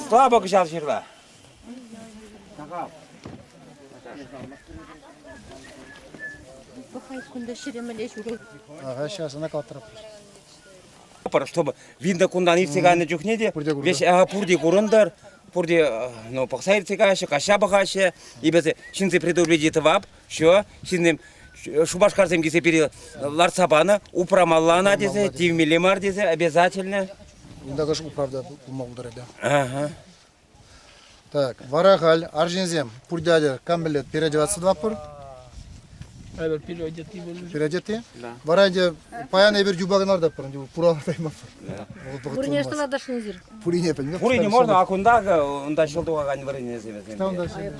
Слава кӑҫал ҫырла! Пӑхай кунта ҫиремеле ҫурӑл. Ага, сейчас она калатрап. Чтобы видно кунтан иртсе кайнӑ чухне те весь пурте курӑнтӑр, пурте ну, пӑхса иртсе каҫҫӗ, каҫа пӑхаҫҫӗ, и без ҫынси предупреди тӑвап, Все, ҫынсем Шупашкарсем килсе пире лартса панӑ, упрамалла ӑна тесе, тивмелле мар тесе, обязательно. Унта кӑш управда пулма пултарать. Ага. Так, вара халь, арҫынсем, пурдядя камбилет переодеваться пур? Эпир переодеты более. Переодеты? Да. Вара инде паян эпир юбаган ардаппыр, инде пура таймаппыр. Бурнежда надо шинзир. Пурине пӗлнӗ. Пурине мар, а кунта унта ҫӑл тухакан вырӑнӗсем вӗсем. Та унта ҫӑл.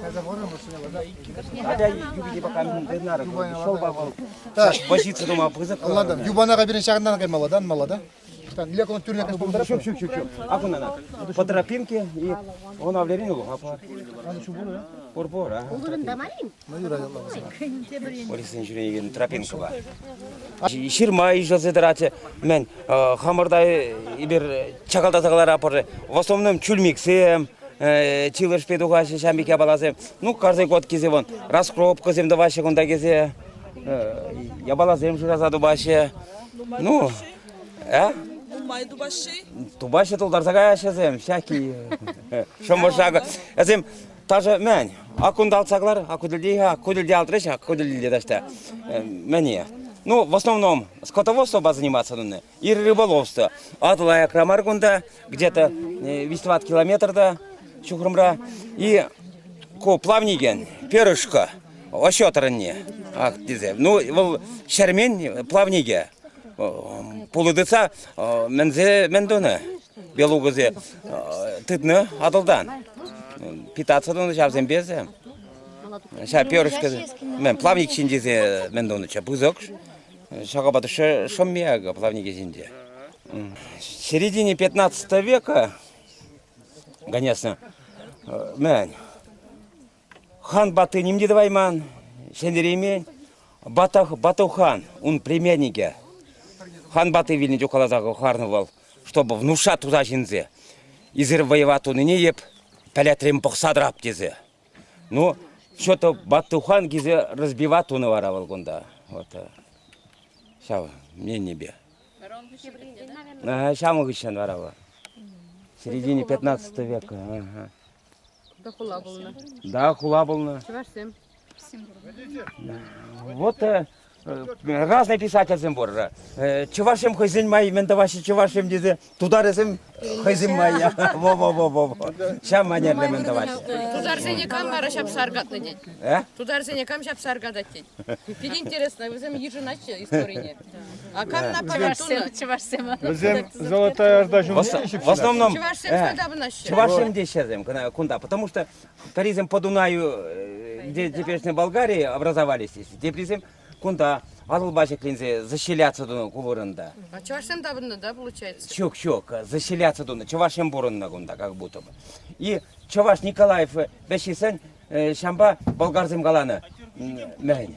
Тата вӑрӑм вӗсене. Атя юпине пока дынар ҫӑлпа вӑл. Вӑҫица тума пысӑк. Ладан, юпана кайберен ҫакӑнтан каймалла да, мала да. Там для кого тюрьня конечно Шук, шук, шук, шук. А кунана по тропинке и он авлерину апа. Урбора. Урбора. Полицин ҫӳреекен тропинкӑпа. Ҫырма ишӗлсе тӑратчӗ. Мен хамӑрта эпир чакалтаса кӑларатпӑр. В основном чульмиксем, чилӗшпе тухаҫҫӗ ҫам пек япаласем. Ну, каждый год кесе вон раскропкӑсем тӑваҫҫӗ кунта кесе. Япаласем шыраса тупаҫҫӗ. Ну, э? Нумай тупаҫҫӗ? Тупаҫҫӗ, тултарса каяҫҫӗ сем, всякие. Шӑмӑршак. Эсем Ташӑ мӗн? Ак кунта алтса кӑлар, ак ку тӗлте, ку тӗлте алтрӗҫ, ак ку тӗлте таҫта. Мӗне? Ну, в основном скотоводство заниматься тунӑ, и рыболовство. Атӑла аякра мар кунта, где-то 220 километрда, ҫухрӑмра. И ку плавникен, перышко, оҫо тӑрӑнне. Ах, тесе. Ну, вӑл ҫермен плавникӗ. Пулӑ тытса мӗнсе мӗн тунӑ. белугӑсем тытнӑ Атӑлтан. Питаться тунӑ ҫавсемпе эсӗ. Ҫав перышко, плавник ҫинче мӗн тунӑччӗ пысӑк. Ҫакапа шӑмми акӑ плавнике ҫинче. Середине 15 века, конечно, мӗн, Хан ватти ним те тӑвайман, сӗнтереймен. Батов, Батов хан, ун племянникӗ. Хан ватти вилнӗ чух каласа хӑварнӑ вӑл, чтобы внуша туса ҫинсе. Эсир вӑйӑва тунине эп пӗлетрем пӑхса тӑрап тесе. Ну, что-то Бату хан килсе разбива тунӑ вара вӑл кунта. Вот ҫав мненипе. Ҫавӑн хыҫҫӑн вара вӑл. Середине 15 века. Да хула пулнӑ. Да, хула пулнӑ. Чӑвашсем. Вот э, разные писательсем пур. Э, Чӑвашсем хӑйсен май мӗн тӑваҫҫӗ чӑвашсем тесе тутарӗсем хӑйсен майя. Во-во-во-во. Ҫав манерле мӗн тӑваҫҫӗ. Тутарсене кам вара ҫапса аркатнӑ тет? Э? Тутарсене кам ҫапса аркатать тет? Питӗ интересно, вӗсем йышӑнаҫҫӗ историне. Чӑвашсем. Вӗсем золотая орда ҫумӗнче В основном чувашсем дещерсем кунта, потому что таризем по Дунаю, где теперешняя Болгария образовались здесь, дебрисем кунта Валылба ҫӗкленсе заселяться тунӑ ку вырӑнта. А чӑвашсем таврӑннӑ, да, получается? Ҫук, ҫук, заселяться тунӑ. Чӑвашсем пурӑннӑ кунта как будто бы. И Чӑваш Николаев вӗҫесен ҫампа болгарсем каланӑ мӗн.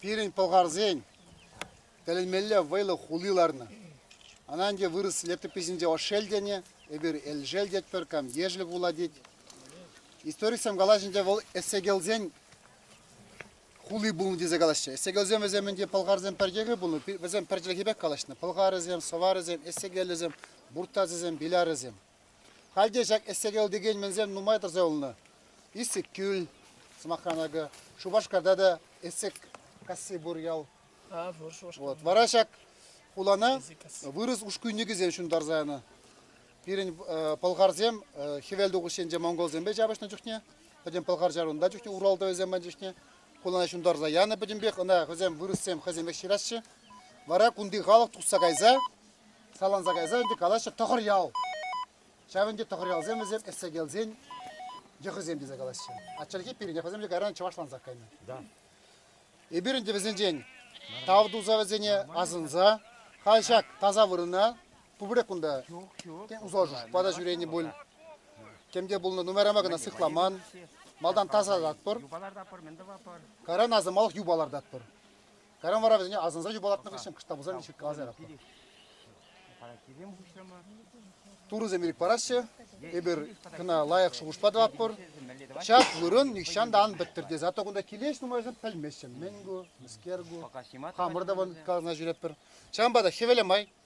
пирӗн пӑлхарсен тӗлӗнмелле вӑйлӑ хули ларнӑ. Ӑна ӗнтӗ вырӑс летописӗнче ошел тенӗ, эпир элшел тетпӗр, камдешӗл пула тет. Историксем калаҫӑнче вӑл эссегелсен хули пулнӑ тесе калаҫҫӗ. Эссегелсем вӗсем ӗнтӗ пӑлхарсем пӗрчехи пулнӑ, вӗсем пӗрчӗлӗхе пек калаҫнӑ. Пӑлхарӗсем, сӑварӗсем, эссегелӗсем, буртасӗсем, билярӗсем. Халь те ҫак Эстерьел текен мӗнсем нумай тӑрса юлнӑ. Иссӗккӳл, сӑмахран акӑ, Шупашкарта та Эссеккасси пур ял. А, пур Шупашкар. Вот. Вара ҫак хулана вырӑс ушкӳнникӗсем ҫунтарса янӑ. Пирӗн пӑлхарсем хӗвел тухӑҫ енче монголсемпе ҫапӑҫнӑ чухне, пӗтӗм пӑлхар ҫарунта чухне уралтӑвӗсем панӑ чухне хулана ҫунтарса янӑ пӗтӗмпех. Ӑна вӗсем вырӑссем хӑйсем ӗҫ ҫыраҫҫӗ. Вара кунти халӑх тухса кайса Саланса кайса ӗнтӗ калаҫҫӗ Тӑхӑрьял. Ҫав ӗнтӗ Тӑхӑрьялсем вӗсем Эссекелсен йӑхӗсем тесе калаҫҫӗ. А чӗлхе пирӗнех вӗсем те кайран чӑвашлансах кайнӑ. Да. Эпир ӗнтӗ вӗсенчен тав туса вӗсене асӑнса халь ҫак таса вырӑна пурпӗрех кунта усӑ пата ҫӳренӗ пуль. Тем те пулнӑ нумайран кӑна сыхламан, малтан тасататпӑр, кайран асамалӑх юпа лартатпӑр. Кайран вара вӗсене асӑнса юпалатнӑ хыҫҫӑн кӑшта пуса виле ҫырткаласа яратпӑр. Турӑсем ирӗк параҫҫӗ, эпир кӑна лайӑх шухӑшпа тӑватпӑр. Ҫак вырӑн нихҫан та ан пӗттӗр тесе атту кунта килес нумайӑшӗ пӗлмеҫҫӗ. Мӗн ку, мӗскер ку, хамӑр та вӑн каласа ҫӳретпӗр. Ҫавӑнпа та хӗвеле май